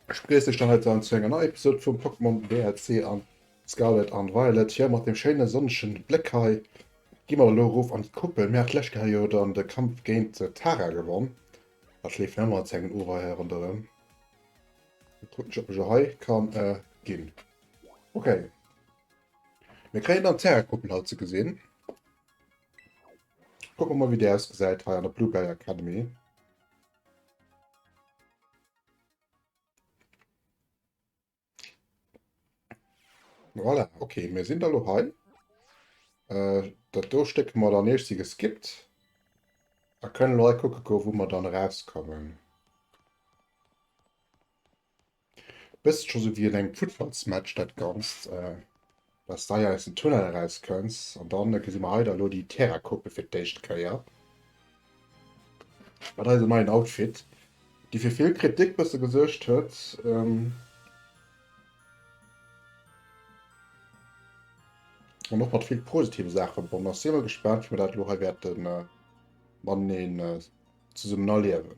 Ech begréiss iech dann heiten zu enger neier Episode vum Pokémon DLC an Scarlet an Violet. Hei mat dem schéine sonnege Bléck hei gi mer elo erof an d'Kuppel. Mir hat d'lescht Kéier jo dann de Kampf géint d'Tara gewonn. Dat leeft nach ëmmer als engen Ureier ronderëm. Gucken, ob ich hei kann äh, gehen. Okay. Wir kriegen dann Terra-Kuppel halt zu gesehen. Gucken wir mal, wie der ausgeseit hei an der Blueberry Academy. Voilà, okay, mir sinn da lo hei. Äh, dat do Stéck mat an Eech si geskippt. A kënnen lo hei kucke goe wou mer dann erauskommen. Bësst scho sou wéi un engem Futtballsmatch dat Ganzt, äh, dass de hei aus dem Tunnel eraus kënns. An dann gesi mer hei da lo déi Terracope fir d'éischt Kéier. Mat eisem neien Outfit, dee fir vill Kritik bësse gesuergt huet, an och mat vill positive Saache verbonnen ass, si mer gespaant, wéi mer dat elo hei wäerte mateneen zesummen erliewen.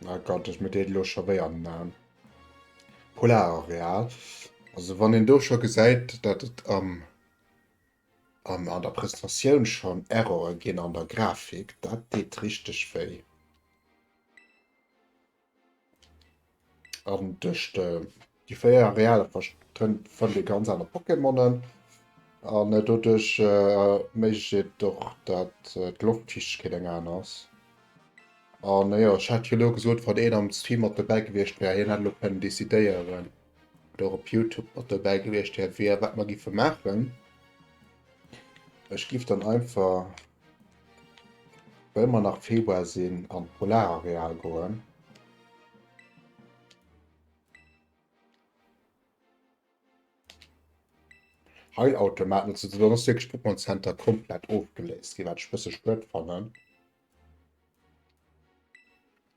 Na oh Gott, ech muss dee lo scho wéi am Naam. Polarareal. Also wann een do scho gesäit, dat et am ähm, an, an der Presentatioun schon Errore ginn an der Grafik, dat deet richteg wéi. An duerch déi 4 Arealer fannt dir ganz aner Pokémonen. An doduerch erméiglecht et och, dat d'Loftfiichtegkeet eng aner ass. An jo, ech hat jo elo gesot, wann een am Stream mat dobäi gewiescht wär, hien hätt elo kënnen decidéieren, oder och op Youtube mat dobäi gewiescht wier, wat mer giffe maachen. Ech giff dann einfach. Well mer nach Februar sinn an d'Polarareal goen. Heilautomat nutzen ze ass wirklich Pokémon Center komplett ofgeléist, iwwer ech bësse spët fannen.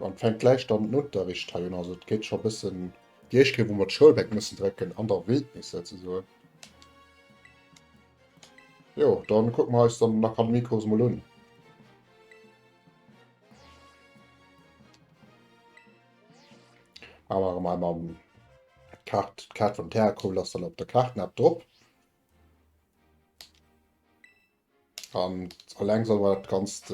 An fänkt gläich dann den Unterricht hei un, also et geet scho bëssen déi éischt Kéier wou mer d'Schoulbänk mussen drécken an der Wildnis souzesoen. Jo, dann kucken mer eis dann den Akademiekurs mol un. Awer awer mei mam Kaart d'Kaart vum Terrakoul ass dann op der Kaart nab drop. An alleng soll mer dat ganzt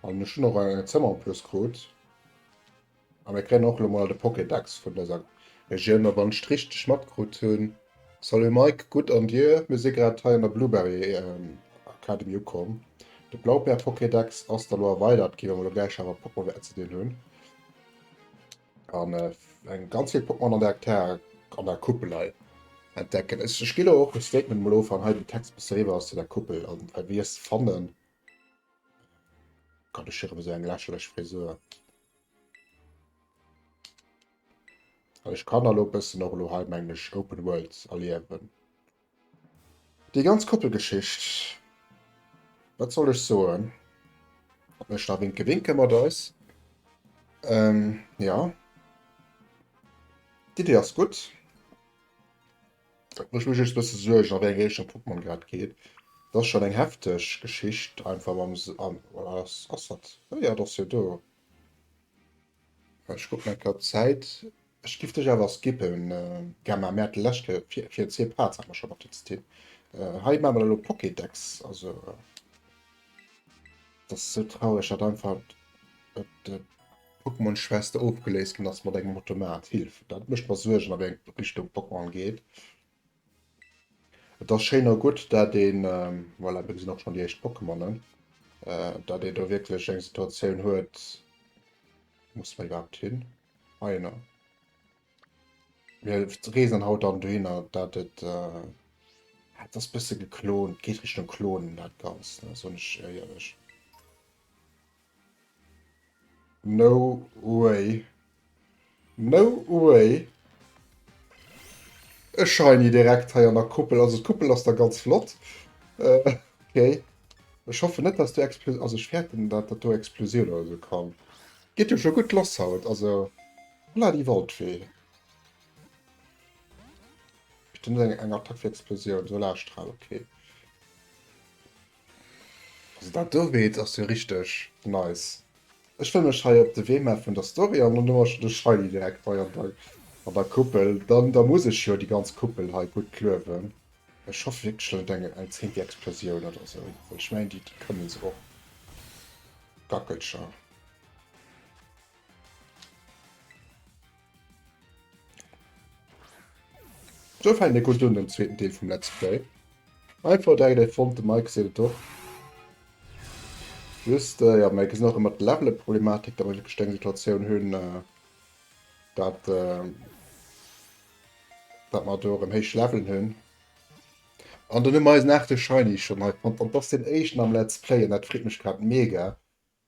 an ech hun och e Zëmmer en plus krut a mir kréien och lo mol de Pokédex vun der Sa Regioun a wann ech richteg matkrut hu Salut Mike, gutt an dir? Mir si grad hei an der Blueberry Academy ukomm. De Blaupär-Pokédex ass da lo erweidert gi wou mer lo gläich awer Pokémon wäerte ze dinn hunn. an äh, eng ganz vill Pokémon an der Hektar an der Kuppelei entdecken. Ech spiel och e Statement Molo an hei den Text beschriwer ass zu der Kuppel an äh, wie es fannen kann ech hier so eng lächerlech Frisur. Ech kann allo bëssen och lo heimenglesch Open World erliewen. Déi ganz Koppelgeschicht, wat soll ech soen? Op mech da winke winke mat eis. Ähm, ja. D'Idee ass gutt. Et mécht mech just e bësse Suergen, a wéi eng Richtung d'Pokémon grad geet. Et ass schonn eng hefteg Geschicht, einfach mam. Ass dat? Jo, jo, et ass jo do. Ech kucken nach grad d'Zäit. Ech giff dech awer skippen, Gemma. Mir hate lescht Kéier fir zwee Parts awer schonn op den System. Hei maache mer dann elo Pokédex. Also et ass esou traureg, datt einfach d'Pokémon-Schwester ofgeléist ginn ass mat engem Automat. Hillef! Dat mécht mer Suergen, a wéi eng Richtung d'Pokémon geet. Et ass schéin a gutt, dat een, voilà, do sinn och schonn déi éischt Pokémonen, dat ee do wierklech eng Situatioun huet, musse mer iwwerhaapt hin? Heino. Mir reesen haut dann dohinner, dat et, ah, et ass e bësse geklont, geet Richtung Klonen dat Ganzt, soen ech iech éierlech. No way. No way. E Shiny direkt hei an der Kuppel. Also d'Kuppel ass da ganz flott. Äh, okay. Ech hoffe net, dass du Explosioun... Also ech fäerten, dat dat do Explosioun oder sou kann. Geet jo scho gutt lass haut. Also, holla déi Waldfee. Bestimmt eng Attack fir Explosioun. Solarstrahl, okay. Also dat do Beet ass jo richteg nice. Ech wëll mech hei op de Wee maachen vun der Story an dann huer ech de Shiny direkt hei an der an der Kuppel. Dann da muss ech jo déi ganz Kuppel hei gutt kluewen. Ech hoff wierklech dann net eng eng zéngte Explosioun oder sou, well ech mengen déi kënne se och. Gackelcher. Sou fänkt ee gutt un den zweeten Deel vum Let's Play. Einfach direkt e fonnt, de Mike seet et och. Just, äh, ja, mir gesinn och ëmmer d'Levele-Problematik, datt mer wierklech eng Situatioun hunn, äh, datt, äh, datt mer do erëm héich Levelen hunn. An dann hu mer eisen achte Shiny schonn hei fonnt an et ass deen éischten am Let's Play an dat freet mech grad mega.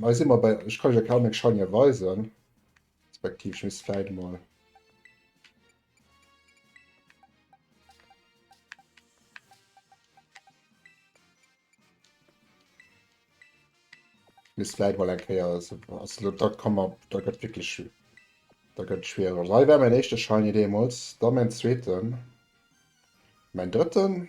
Hei si mer bei, ech kann iech e Kamek Shiny weisen, respektiv ech misst vläit emol. Misst vläit emol eng Kéier, also dat kann man, dat gëtt wierklech, dat gëtt schwierig. Also hei war mäin éischte Shiny deemools, da mäin zweeten, mäin drëtten,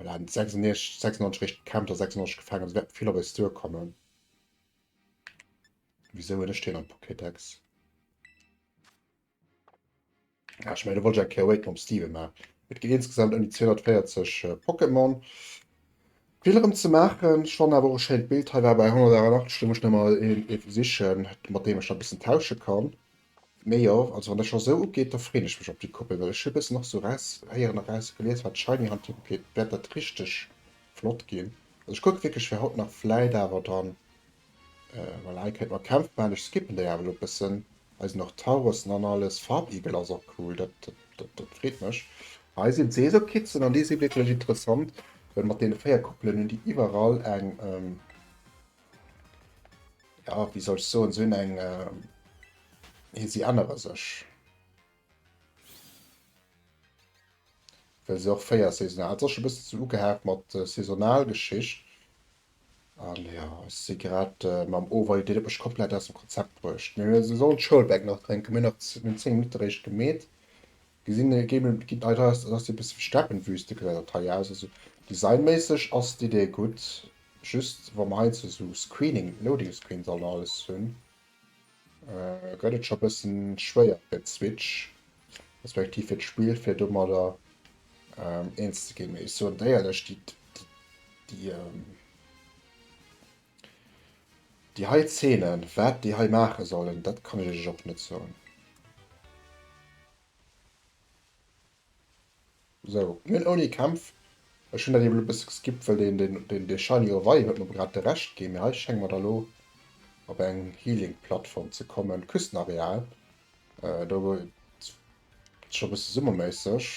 Voilà, en huet 96, 96 réischt gekämpft a 96 gefaangen, also wäert vill op eis duerkommen. Wisou hunn ech deen am Pokédex? Ah, ech mengen, do wollt ech eng Kéier Awaken um Steven maachen. Et ginn insgesamt ëm déi 240 Pokémon. Vill erëm ze maachen. Ech fannen awer och e schéint Bild hei war bei 188, do muss ech nach mol een sichen, mat deem ech da e bëssen tausche kann. Mee jo, also wann dat scho sou ugeet, da freen ech mech op déi Koppel, well ech hu bëssen och sou eraushéieren a rausgelies wat Shiny Hunting ugeet, wäert dat richteg flott ginn. Also ech kucke wierklech fir haut nach, vläit awer dann, well hei kéint mer Kämpf maachen, ech skippen déi awer elo bëssen, hei sinn och Taurossen an alles, Farbeagle ass och cool, dat freet mech. Hei sinn d'Seesokitzen an déi si wierklech interessant, well mat deene 4 Koppelen hunn déi iwwerall eng. Ja, wie soll ich so und so in eng äh, hier sie andere sech. Well se och féier saisonal hat sech bis zu ugehaakt mat äh, saisonal Geschicht. An ja si grad äh, mam Overview Dir mech komplett aus dem Konzept bruecht. Mir se sollen d'Schoulbäck nach drénken, mir nach 10 Minutter réischt gemeet. Gesin e Game en geet nei raus, dat ass e bessen Steppenwüste gesäit dat hei aus. Also designméisseg ass d'Idee gudd, just wa mer heiansdo sou Screening, Loading Screens an alles hun, gëtt et scho bessen schwéier fir d'Switch, respektiv fir d'Spill fir domadder eens ze gin. Mee ech soen dir éierlech déi. Déi hei Zeenen, wat déi hei maache sollen, dat kann ech iech och net soen. Sou, mir hunn ouni Kämpf, ech hunn dat ebe lo e bësse geskippt, well deen dee shiny Oweih huet mer grad de Recht ginn, mee hei schénge mer da lo op eng Healing-Plattform ze kommen, Küstenareal. Do gëtt scho e bësse summerméisseg.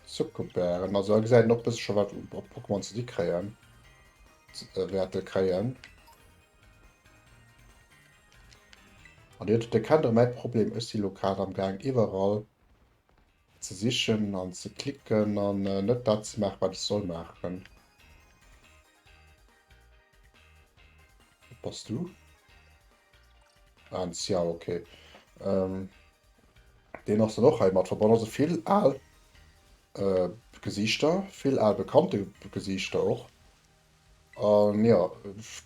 Zuckerbären, also hei gesäit een och e bësse scho wat op Pokémon ze di kréien äh, wäerte kréien. An Dir huet erkennt och mäi Problem, ech si lo grad am Gaang iwwerall ze sichen an ze klicken an äh, net dat ze maachen, wat ech soll maachen. Bass du? Ah, Xiao, okay. Ähm, den ass dann och hei mat verbonnen. Also vill al äh, Gesichter, vill al bekannte Gesichter och. An ähm, ja,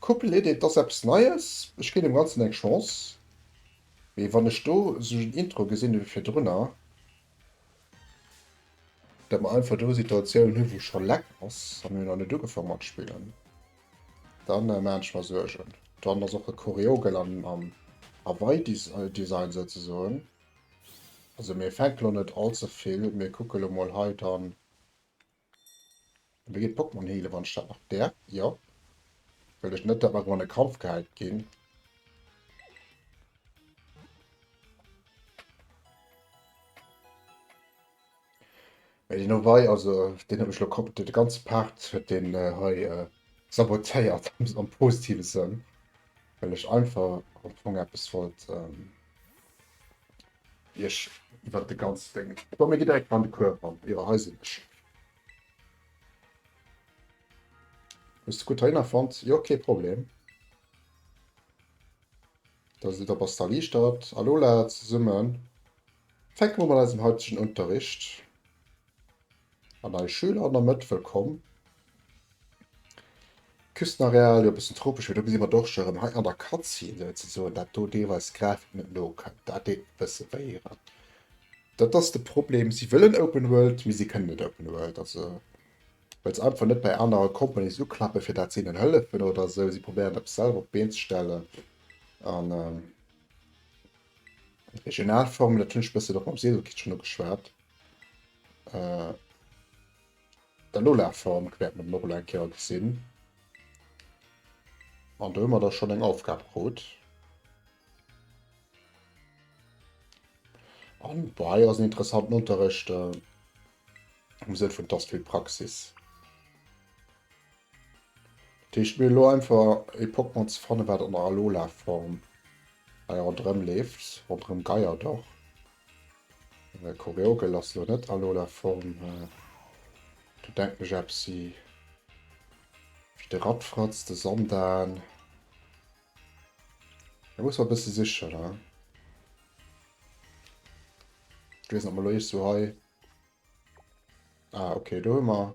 Couple Edit, das eppes Neies. Ech ginn dem ganzen eng Chance. Mee wann ech do so Intro gesinn fir drënner, Dat mer einfach do Situatioun hu wou scho leck ass a mir hu nach net ugefangen mat spillen, dann maan ech mer Suergen. Dann ass och e Koreogel am am Aweidesign souzesoen. Also mir fänken lo net all ze vill, mir kucke lo mol hei dann. An da geet d'Pokémon heelen, wann ech dat nach däerf, jo. Well ech net däerf einfach an e Kampf gehäit ginn. Mä deen Owei, also deen huet mech elo kom... de ganze Part huet deen hei sabotéiert, am positive Sënn. Well ech einfach am Fong eppes wollt... Iech iwwert de ganz Ding. Komm mir gi direkt an de Cours ran. Jo hei sinn ech. Hues de gutt heihinner fonnt? Jo kee Problem. Da sidd der op ass d'Erliichtert. A Lola zesummen fänke mer un mat eisem haitegen Unterricht. An eis Schüler an der Mëtt, wëllkomm! Küstenareal, jo e bëssen tropesch, mee do gesi mer d'Dorscher erëm. Hei an der Cutscene souzesoen, dat do deelweis d'Grafik net no kënnt, dat deet e bësse wéi hei. Dat ass de Problem, si wëllen Open World, mee si kënnen net Open World. Also well se einfach net bei anere Companies uklappen, fir dat se hinnen hëllefen oder esou. Si probéieren eppes selwer op d'Been ze stellen an. Regionalformel, dat hunn ech bëssen och mam Sedelkind schonn ugeschwat. Äh, D'Alola-Form wäert mer dann och elo eng Kéier gesinn. An do hu mer da schonn eng Aufgab krut. An boah, hei ass en interessanten Unterrecht, äh, am Sënn vun, et ass vill Praxis. Dat heescht mir hu elo einfach e Pokémon ze fannen, wat an der Alola-Form hei ronderëm leeft. Ronderëm Gaia dach. Well Koreogel ass elo net Alola-Form. Do denken ech eppes si wéi de Radfratz, de Sandan. Da muss mer e bësse sichen. Ech weess net, ob mer elo iergendwou hei... Ah, okay, do hu mer.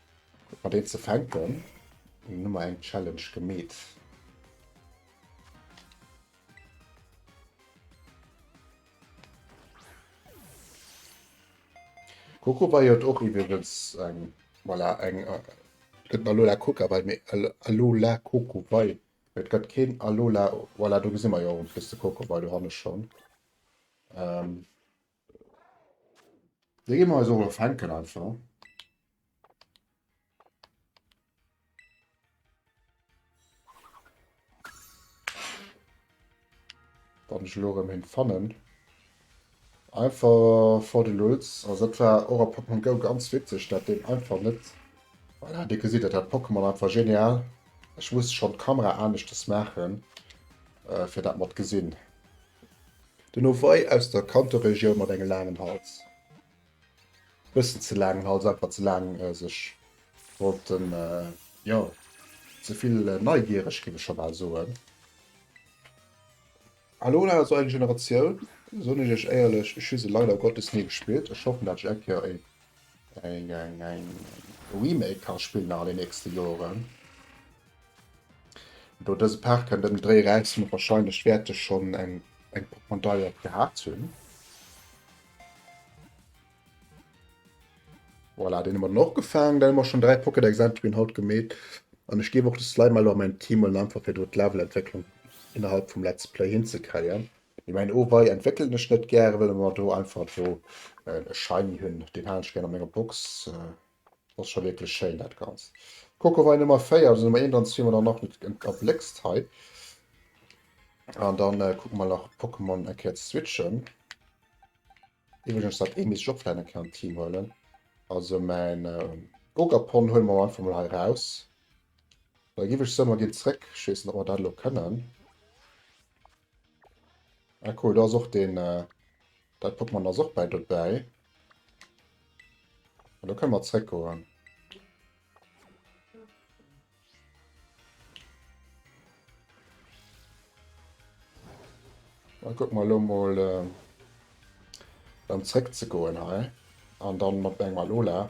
Guck mal deen ze fänken. Eng Nummer eng Challenge gemeet. Coco bei jo och iwwelwels eng voilà, eng gëtt Alola Coca bei mé Alola Coco bei. Et gëtt keen Alola voilà, do gesi mer jo plus de Coco bei, do hanne schon. Ähm. Da gi mer eis och e fänken einfach. Wann ech lo erëm him fannen. Einfach for the lulz. Also dat war och a Pokémon Go ganz witzeg, dat deen einfach net. Voilà, Dir gesitt et, dat Pokémon einfach genial. Ech muss schonn d'Kamera aneschters maachen, äh, fir dat mer d'gesinn. Den Owei aus der Kantoregioun mat engem laangen Hals. Bëssen ze laangen Hals, einfach ze laang sech wollten jo ze vill neigiereg géif ech scho bal soen. Hallo an awer zur eigen Generatioun soen ech iech éierlech, ech hu se leider Gottes ni gespillt. Ech hoffen dat ech eng Kéier een eng eng eng Remake ka spillen an den nächste Joren. Do dëse Paart kënnt ëm Dréi räissen huet wahrscheinlech wäerte schonn eng eng Pokémon-Deiert gehat hunn. Voilà, den man och gefaang, dann man schon drei Pokédex Entry haut gemet an ech gebe och de Slime mal mein Team und einfach fir dort Levelentwicklung innerhalb vum Let's Play hinzekreien. Ich mein oh wei entwickeln ech net gäre well man do einfach do äh, e Shiny hunn, den han ech gern an menger Box. Äh. Dat ass scho wierklech schéin dat Ganzt. D'Coco war Nummer 4, also Nummer 1 an 2 hun mer dann nach net erbléckst hei. An dann äh, kucke mer nach Pokémon eng Kéier switchen. Iwwregens dat ee misst ech och vläicht eng Kéier an d'Team huelen. Also mäin äh, Ogapon huele mer einfach mol hei raus. Da giff ech soen, mer ginn zréck. Ech weess net, ob mer dat elo kënnen. Ah cool, da ass och den, dat Pokémon ass och bei dobäi. An da kënne mer zréck goen. Da guck mal lo mal äh, dann zréck ze goen hei. An dann mat engem Alola.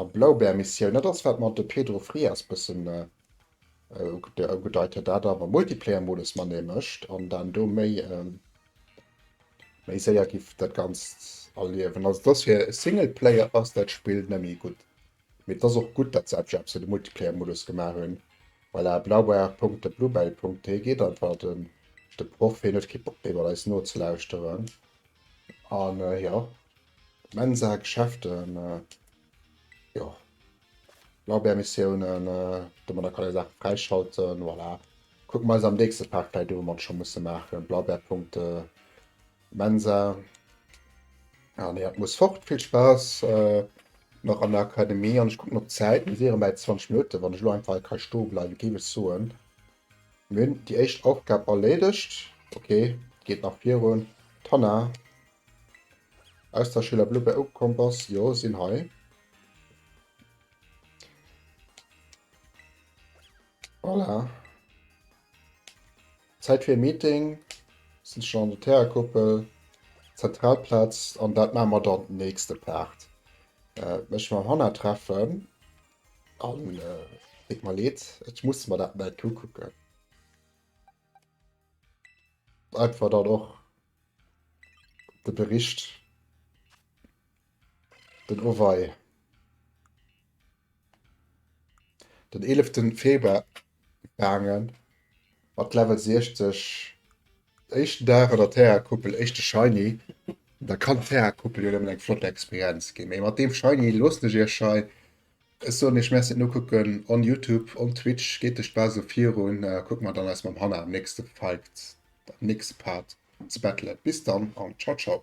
A Blaubär-Missioun, dat ass wat mer de Pedro Frias bëssen ugedeit huet, dat awer Multiplayer-Modus mané mécht an dann do méi méi séier giff dat Ganzt erliewen. Also et ass fir Singleplayer ass dat Spill net méi gutt, mee et ass och gutt, datt se effektiv esou de Multiplayer-Modus gemaach hunn. Voilà, blaubär.thebluebell.t geet einfach de de Proff, hien huet kee Bock méi mat eis nozelauschteren an jo. Mensa, Geschäften, jo, Lorbeermissiounen, déi mer da kënne Saache fräischalten, voilà. Kucke mer eis am nächste Part vläicht u, wat mer scho musse maachen, Blaubeerpunkte, Mensa. Ah nee, dat muss fort. Vill Spaass nach an der Akademie an ech kucken op d'Zäit, mir si erëm bäi 20 Minutten. Wann ech elo einfach hei ka stoe bleiwen, géif ech soen, Mir hunn déi éischt Aufgab erleedegt. Ok, geet nach virun. D'Hanna aus der Schüler Blue Bear ugekomm bass. Jo, sinn hei. Voilà. Zäit fir e Meeting. Sinn schon an der Terrakuppel. Zentralplatz. An dat maache mer dann den nächste Part. Äh, mech mam Hanna treffen. An et mer leed, ech muss mer dat neit ukucken. Einfach dann och de Bericht, den Owei, den 11. Februar gaangen mat Level 60 éischten Dag an der Terra Kuppel éischte Shiny an da kann Terra Kuppel jo nëmmen eng flott Experienz ginn, mee mat deem Shiny loossen ech iech hei, ech soen iech Merci no kucken on Youtube, on Twitch, geet duerch d'Base virun a kuckt mer dann eis mam Hanna am nächste Fight, am nächste Part ze battelen, bis dann an ciao ciao.